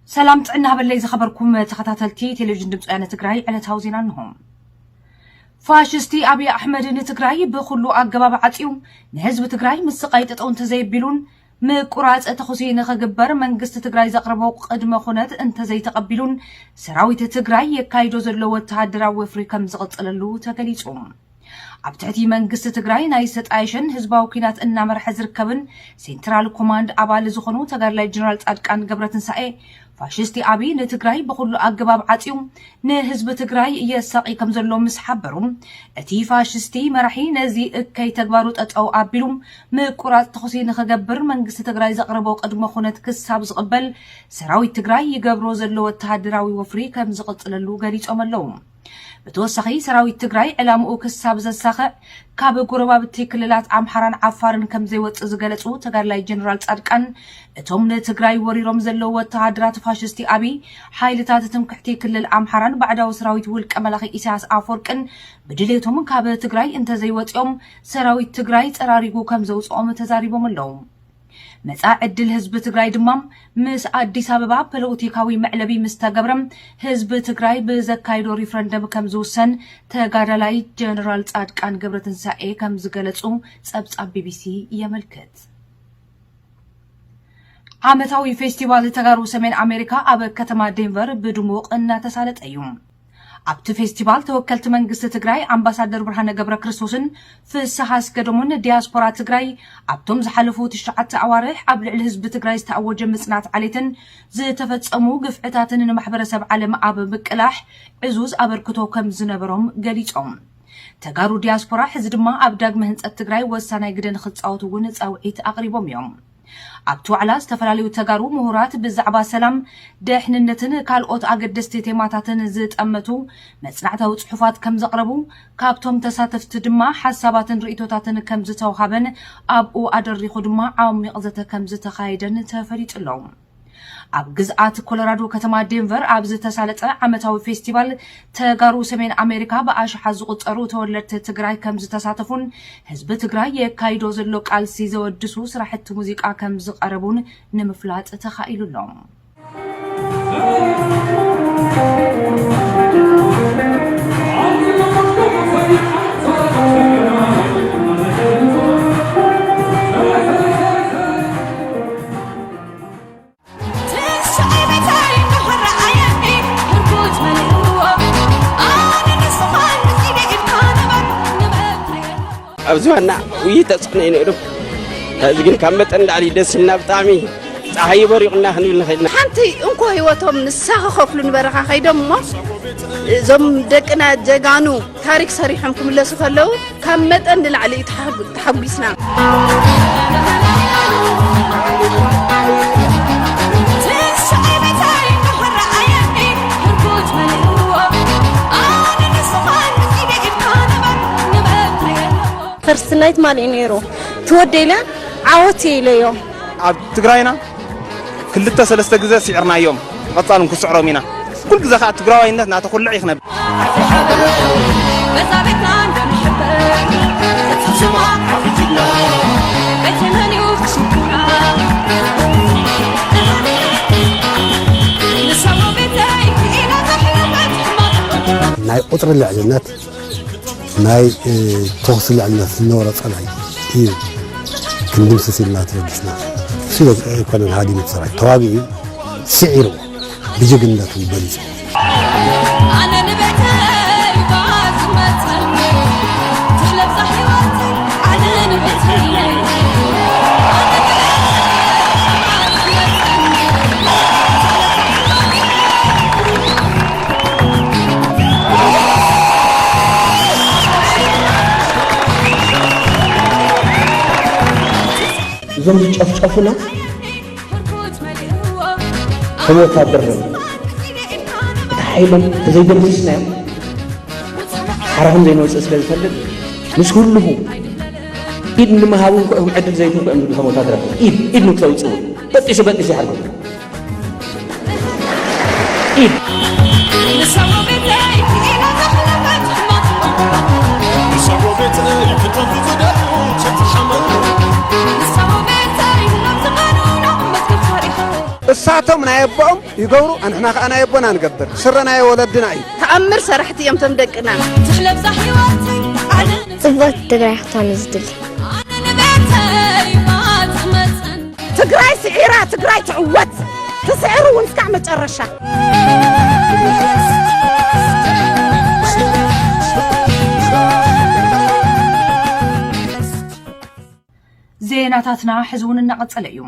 ሰላም ጥዕና ሃበለይ ዝኸበርኩም ተኸታተልቲ ቴሌቪዥን ድምፂ ወያነ ትግራይ ዕለታዊ ዜና እንሆ። ፋሽስቲ ኣብዪ ኣሕመድ ንትግራይ ብኩሉ ኣገባብ ዓፅዩ ንህዝቢ ትግራይ ምስ ስቓይ ጠጠው እንተዘይቢሉን ምቁራፅ ተኹሲ ንኽግበር መንግስቲ ትግራይ ዘቕረቦ ቅድመ ኩነት እንተዘይተቐቢሉን ሰራዊት ትግራይ የካይዶ ዘሎ ወተሃደራዊ ወፍሪ ከም ዝቕፅለሉ ተገሊፁ። ኣብ ትሕቲ መንግስቲ ትግራይ ናይ ዝተጣየሸን ህዝባዊ ኩናት እናመርሐ ዝርከብን ሴንትራል ኮማንድ ኣባል ዝኾኑ ተጋድላይ ጀነራል ጻድቃን ገብረትንሳኤ ፋሽስቲ ኣብይ ንትግራይ ብኹሉ ኣገባብ ዓፅዩ ንህዝቢ ትግራይ የሳቒ ከም ዘሎ ምስ ሓበሩ እቲ ፋሽስቲ መራሒ ነዚ እከይ ተግባሩ ጠጠው ኣቢሉ ምቁራፅ ተኹሲ ንክገብር መንግስቲ ትግራይ ዘቕረቦ ቅድመ ኩነት ክሳብ ዝቕበል ሰራዊት ትግራይ ይገብሮ ዘሎ ወተሃደራዊ ወፍሪ ከም ዝቕፅለሉ ገሊፆም ኣለው። ብተወሳኺ ሰራዊት ትግራይ ዕላምኡ ክሳብ ዘሳኽዕ ካብ ጎረባብቲ ክልላት ኣምሓራን ዓፋርን ከም ዘይወፅእ ዝገለፁ ተጋድላይ ጀነራል ፃድቃን እቶም ንትግራይ ወሪሮም ዘለዉ ወተሃደራት ፋሽስቲ ኣብይ ሓይልታት ትምክሕቲ ክልል ኣምሓራን ባዕዳዊ ሰራዊት ውልቀ መላኺ ኢሳያስ ኣፈወርቅን ብድሌቶም ካብ ትግራይ እንተዘይወፂኦም ሰራዊት ትግራይ ፀራሪጉ ከም ዘውፅኦም ተዛሪቦም ኣለዉ። መፃኢ ዕድል ህዝቢ ትግራይ ድማ ምስ ኣዲስ ኣበባ ፖለቲካዊ መዕለቢ ምስ ተገብረ ህዝቢ ትግራይ ብዘካይዶ ሪፍረንደም ከም ዝውሰን ተጋዳላይ ጀነራል ፃድቃን ገብረትንሳኤ ከም ዝገለፁ ፀብፃብ ቢቢሲ የመልክት። ዓመታዊ ፌስቲቫል ተጋሩ ሰሜን ኣሜሪካ ኣብ ከተማ ዴንቨር ብድሙቕ እናተሳለጠ እዩ። ኣብቲ ፌስቲቫል ተወከልቲ መንግስቲ ትግራይ ኣምባሳደር ብርሃነ ገብረክርስቶስን ፍስሃ ኣስገዶምን ዲያስፖራ ትግራይ ኣብቶም ዝሓለፉ ትሽዓተ ኣዋርሕ ኣብ ልዕሊ ህዝቢ ትግራይ ዝተኣወጀ ምፅናት ዓሌትን ዝተፈፀሙ ግፍዕታትን ንማሕበረሰብ ዓለም ኣብ ምቅላሕ ዕዙዝ ኣበርክቶ ከም ዝነበሮም ገሊፆም። ተጋሩ ዲያስፖራ ሕዚ ድማ ኣብ ዳግመ ህንፀት ትግራይ ወሳናይ ግደ ንክፃወቱ እውን ፃውዒት ኣቕሪቦም እዮም። ኣብቲ ዋዕላ ዝተፈላለዩ ተጋሩ ምሁራት ብዛዕባ ሰላም፣ ደሕንነትን ካልኦት ኣገደስቲ ቴማታትን ዝጠመቱ መፅናዕታዊ ፅሑፋት ከምዘቕረቡ ካብቶም ተሳተፍቲ ድማ ሓሳባትን ርኢቶታትን ከምዝተውሃበን ኣብኡ ኣደሪኹ ድማ ዓሚቕ ዘተ ከምዝተኻየደን ተፈሊጡ ኣሎ። ኣብ ግዝኣት ኮሎራዶ ከተማ ዴንቨር ኣብ ዝተሳለጠ ዓመታዊ ፌስቲቫል ተጋሩ ሰሜን ኣሜሪካ ብኣሽሓት ዝቑፀሩ ተወለድቲ ትግራይ ከም ዝተሳተፉን ህዝቢ ትግራይ የካይዶ ዘሎ ቃልሲ ዘወድሱ ስራሕቲ ሙዚቃ ከም ዝቐረቡን ንምፍላጥ ተኻኢሉ ኣሎ። ኣብ ዝባና ውይ ተፅዕኖ እዩ ነይሩ ሕዚ ግን ካብ መጠን ላዕሊ ደስ ኢልና ብጣዕሚ ፀሓይ በሪቑና ክንብል ንኽእል ኢና ሓንቲ እንኮ ህይወቶም ንሳ ክኸፍሉ ንበረኻ ከይዶም እሞ እዞም ደቅና ጀጋኑ ታሪክ ሰሪሖም ክምለሱ ከለው ካብ መጠን ንላዕሊ እዩ ተሓጒስና። ፈርስት ናይት ማን እዩ ነይሩ ትወደይለ ዓወት ኢለዮ ኣብ ትግራይና ክልተ ሰለስተ ግዘ ሲዕርናዮም ብቀፃሉ ንክስዕሮም ኢና ኩሉ ግዘ ከዓ ትግራዋይነት ናተኩልዕ እዩ ክነብ ናይ ቁፅሪ ልዕልነት ናይ ተኹሲ ልዕልና ዝነበሮ ፀላኢ እዩ ክንድምስስ ኢልና ተበጊስና ስለ ኣይኮነን ሃዲሙ ሰራዊት ተዋጊኡ ስዒርዎ ብጅግንነቱ በሊፁ እዞም ዝጨፍጨፉና ከም ወታደር ነ እቲ ሓይሎም ተዘይደምስስናዮም ሓራ ከም ዘይንወፅእ ስለ ዝፈልጥ ምስ ኩልኹ ኢድ ንምሃብ እንኩዕም ዕድል ዘይትንኩዕም ዝብሉ ከም ወታደር ኢድ ኢድ ንክተውፅኡ በጢሱ በጢሱ ይሓርኩም እሳቶም ናይ ኣቦኦም ይገብሩ ኣንሕና ከዓ ናይ ኣቦና ንገብር ስረ ናይ ወለድና እዩ ተኣምር ሰራሕቲ እዮም ቶም ደቅና ትሕለብዛ ሕይወተይ ዓለም ጽብቕቲ ትግራይ ክትኮን ዝድሊ ኣነ ንቤተይ ማት መፅን ትግራይ ስዒራ ትግራይ ትዕወት ትስዕር እውን እስካዕ መጨረሻ። ዜናታትና ሕዚ እውን እናቐጸለ እዩ።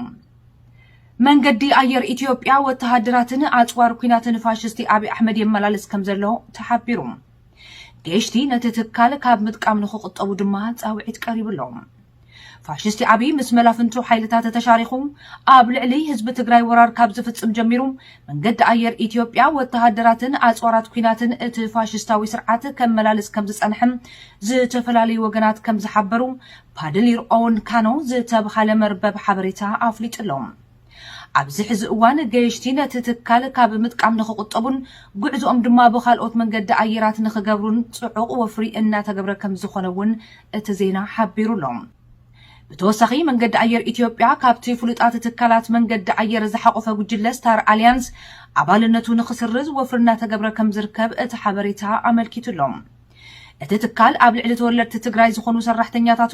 መንገዲ ኣየር ኢትዮጵያ ወተሃደራትን ኣጽዋር ኩናትን ፋሽስቲ ኣብዪ ኣሕመድ የመላልስ ከም ዘሎ ተሓቢሩ። ገሽቲ ነቲ ትካል ካብ ምጥቃም ንክቑጠቡ ድማ ጻውዒት ቀሪቡሎም። ፋሽስቲ ዓብዪ ምስ መላፍንቱ ሓይልታት ተሻሪኹ ኣብ ልዕሊ ህዝቢ ትግራይ ወራር ካብ ዝፍፅም ጀሚሩ መንገዲ ኣየር ኢትዮጵያ ወተሃደራትን ኣፅዋራት ኩናትን እቲ ፋሽስታዊ ስርዓት ከመላልስ ከም ዝፀንሐ ዝተፈላለዩ ወገናት ከም ዝሓበሩ ፓድሊር ኦውን ካኖ ዝተብሃለ መርበብ ሓበሬታ ኣፍሊጡ ኣሎ። ኣብዚ ሕዚ እዋን ገየሽቲ ነቲ ትካል ካብ ምጥቃም ንኽቑጠቡን ጉዕዝኦም ድማ ብኻልኦት መንገዲ ኣየራት ንኽገብሩን ፅዑቕ ወፍሪ እናተገብረ ከምዝኾነ እውን እቲ ዜና ሓቢሩ ኣሎ። ብተወሳኺ መንገዲ ኣየር ኢትዮጵያ ካብቲ ፍሉጣት ትካላት መንገዲ ኣየር ዝሓቖፈ ጉጅለ ስታር ኣሊያንስ ኣባልነቱ ንኽስርዝ ወፍሪ እናተገብረ ከምዝርከብ እቲ ሓበሬታ ኣመልኪቱ ኣሎ። እቲ ትካል ኣብ ልዕሊ ተወለድቲ ትግራይ ዝኾኑ ሰራሕተኛታቱ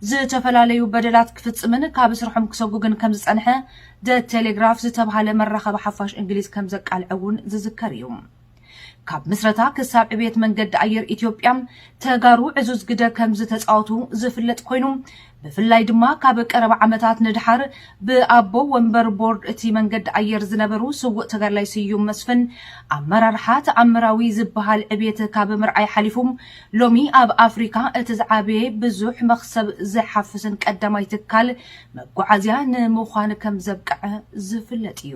ዝተፈላለዩ በደላት ክፍፅምን ካብ ስርሖም ክሰጉግን ከምዝፀንሐ ደ ቴሌግራፍ ዝተብሃለ መራኸቢ ሓፋሽ እንግሊዝ ከምዘቃልዐ እውን ዝዝከር እዩ። ካብ ምስረታ ክሳብ ዕብየት መንገዲ ኣየር ኢትዮጵያ ተጋሩ ዕዙዝ ግደ ከምዝተፃወቱ ዝፍለጥ ኮይኑ ብፍላይ ድማ ካብ ቀረባ ዓመታት ንድሓር ብኣቦ ወንበር ቦርድ እቲ መንገዲ ኣየር ዝነበሩ ስውእ ተጋድላይ ስዩም መስፍን ኣመራርሓ ተኣምራዊ ዝበሃል ዕብየት ካብ ምርኣይ ሓሊፉ ሎሚ ኣብ ኣፍሪካ እቲ ዝዓበየ ብዙሕ መኽሰብ ዝሓፍስን ቀዳማይ ትካል መጓዓዝያ ንምዃን ከምዘብቀዐ ዝፍለጥ እዩ።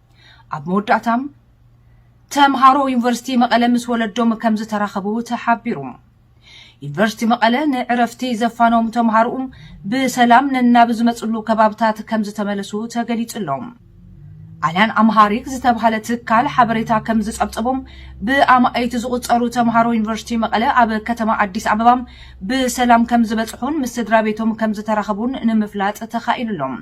ኣብ መወዳእታ ተምሃሮ ዩኒቨርሲቲ መቐለ ምስ ወለዶም ከም ዝተራኸቡ ተሓቢሩ። ዩኒቨርሲቲ መቐለ ንዕረፍቲ ዘፋኖም ተምሃሮኡ ብሰላም ነናብ ዝመፅሉ ከባብታት ከም ዝተመለሱ ተገሊፁ ኣሎ። ኣልያን ኣምሃሪክ ዝተብሃለ ትካል ሓበሬታ ከም ዝፀብፀቦም ብኣማኢት ዝቑፀሩ ተምሃሮ ዩኒቨርሲቲ መቐለ ኣብ ከተማ ኣዲስ ኣበባ ብሰላም ከም ዝበፅሑን ምስ ስድራ ቤቶም ከም ዝተራኸቡን ንምፍላጥ ተኻኢሉ ኣሎ።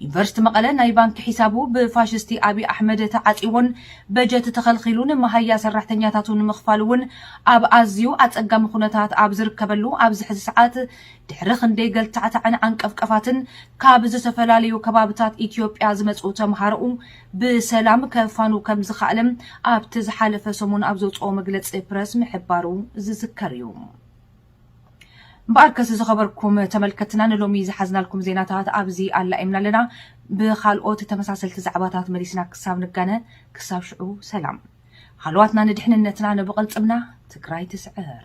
ዩኒቨርስቲ መቐለ ናይ ባንኪ ሒሳቡ ብፋሽስቲ ኣብይ ኣሕመድ ተዓፅይዎን በጀት ተኸልኺሉን መሃያ ሰራሕተኛታቱ ንምኽፋል እውን ኣብ ኣዝዩ ኣፀጋሚ ኩነታት ኣብ ዝርከበሉ ኣብዚ ሕዚ ሰዓት ድሕሪ ክንደይ ገልታዕታዕን ዓንቀፍቀፋትን ካብ ዝተፈላለዩ ከባብታት ኢትዮጵያ ዝመፁ ተምሃሮኡ ብሰላም ከፋኑ ከም ዝኸኣለ ኣብቲ ዝሓለፈ ሰሙን ኣብ ዘውፅኦ መግለፂ ፕረስ ምሕባሩ ዝዝከር እዩ። እምበኣርከስ ዝኸበርኩም ተመልከትና ንሎሚ ዝሓዝናልኩም ዜናታት ኣብዚ ኣላኢምና ኣለና። ብኻልኦት ተመሳሰልቲ ዛዕባታት መሊስና ክሳብ ንጋነ ክሳብ ሽዑ ሰላም። ሃለዋትና ንድሕንነትና ንብቕልፅምና ትግራይ ትስዕር።